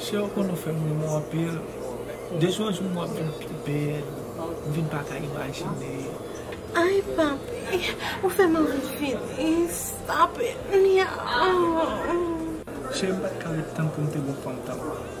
Sè ou konn ou fèm ri mou anpil De jou an jou wap vin pi bèl M vin pa ka imajine Ayy papi ou fèm anvi fini Stop it myauu. Cheri m pat ka ret tann poum te gon fanm tankou w.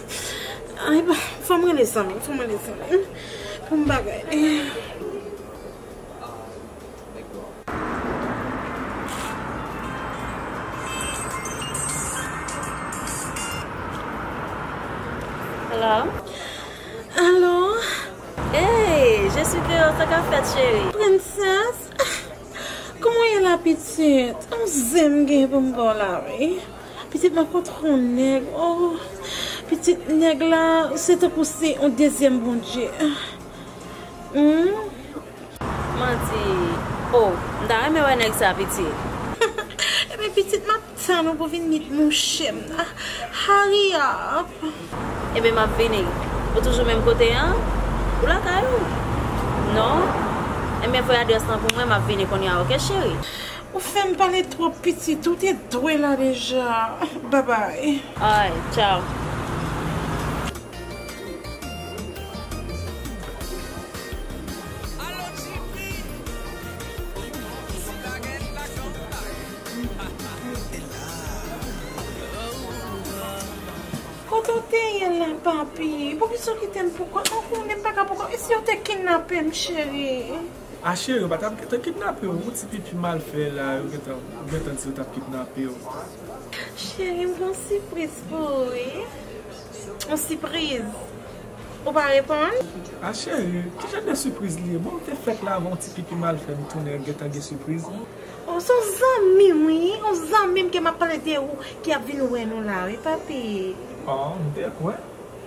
Ay bay, fòm rele zanmim, fòm rele zanmim poum bagay li. Alo. Ey, je suis dehors, sa kap fèt cheri? Princesse, kouman ou ye la pitit? Yon zen m gen pou m ba w la wi. Pitit mwen pa tro yon nèg oh pitit nèg la se tankou se yon dezyèm Bondye humm. Mwen di oh m ta renmen wè nèg sa pitit. Ebyen pitit map tann ou pou vin mit mouche m nan hurry up. Ebyen map vini. Ou toujou menm kote an? Ou lakay ou? Non? Ebyen voye adrès lan pou mwen map vini kounya ok cheri. Ou fem pale trop pitit ou te dwe la deja bye bye. Ay tchao. Kote w te ye la papi. Poukisa w kitem poukont. Mwen konnen m paka poukont. E si yo te kinapem cheri. Ah chérie yo pa tap gentan kidnape w non ti pipi mal fè la yo gentan ou gentan di yo tap kidnape w. Chérie m gen yon sipriz pou ou wi yon sipriz ou pa reponn. Ah chérie ki jan de sipriz li ye bon m te fèk la avan yon ti pipi mal fè m tounen gentan gen sipriz non. Oh son zanmi m wi yon zanmi m ke map pale de ou ki ap vin wè nou la wi papi. Oh m te kwè.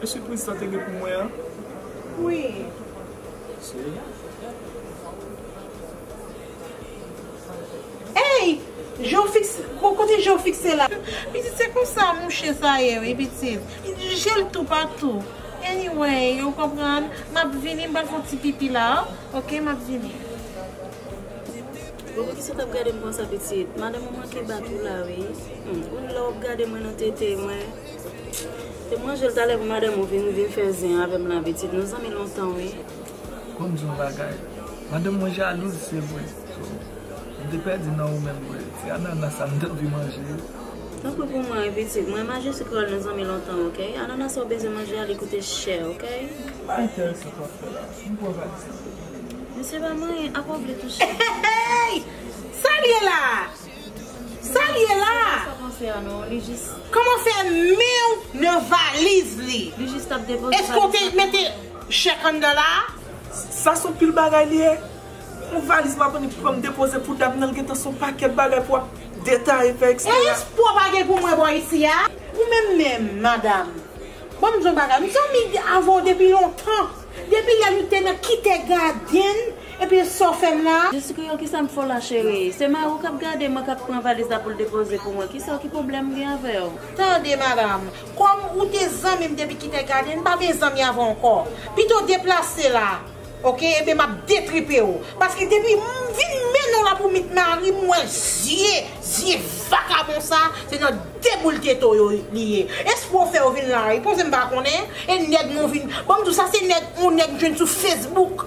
Mesye prezidan te gen pou mwen an wi mesye. Eyy jeofix bon kote jeofix ye la. Pitit se konsa mouche sa ye wi pitit li jel tou patou anyway ou konprann map vini m pral fon ti pipi la ok map vini. Bon poukisa w tap gadem konsa pitit madanm ou manke bat ou la wi humm ou lè wap gade mwen nan tete mwen. Te manjel talè pou madanm ou vin vin fè zen avèm la pitit nou zanmi lontan wi. Konn di yon bagay madanm mwen jalouz se vre so m te pèdi nan ou menm vre se anana sa m te anvi manje yo. Tanpri pou mwen wi pitit mwen ma jesi krèl nou zanmi lontan ok anana sa ou bezwen manje a li koute chè ok. Pa entèrese sa wap fè la m pran valise m vini. Mesye pa manyen apa w vle touche. Hehehey Sa l ye la? Sal ye la? Koman fè menw nan valiz li? Eske w te mete chèk anndan la? Sa son pil bagay li ye. Yon valiz map annik pou m depoze pou dam nan li gentan son pakèt bagay pou wap detaye fè eksplike la. Elis pwòp a gen pou mwen bò isi a? Ou menm menm madam banm di yon bagay m zanmi avèw depi lontan depi lè nou te nan kite gadenn. Epi sa w fè m la a? Jesi kreyòl kisa m fè w la cherie? Se mari w k ap gade mwen k ap pran valiz la pou l depoze pou mwen. Kisa w ki pwoblèm m gen avè w? Tande madanm, kòm ou te zanmi m depi Kite Gade, n pa byen zanmi avè w ankò. Pito deplase la a ok ebyen m ap detripe w. Paske depi m vin mennen w la pou meet mari m m wè zye, zye vakabon sa a se nan deboule tete w yo li ye. Espre w fè yo vin laripoz m pa konnen e nèg mwen vin, ban m di w sa se nèg yon nèg m jwenn sou Facebook.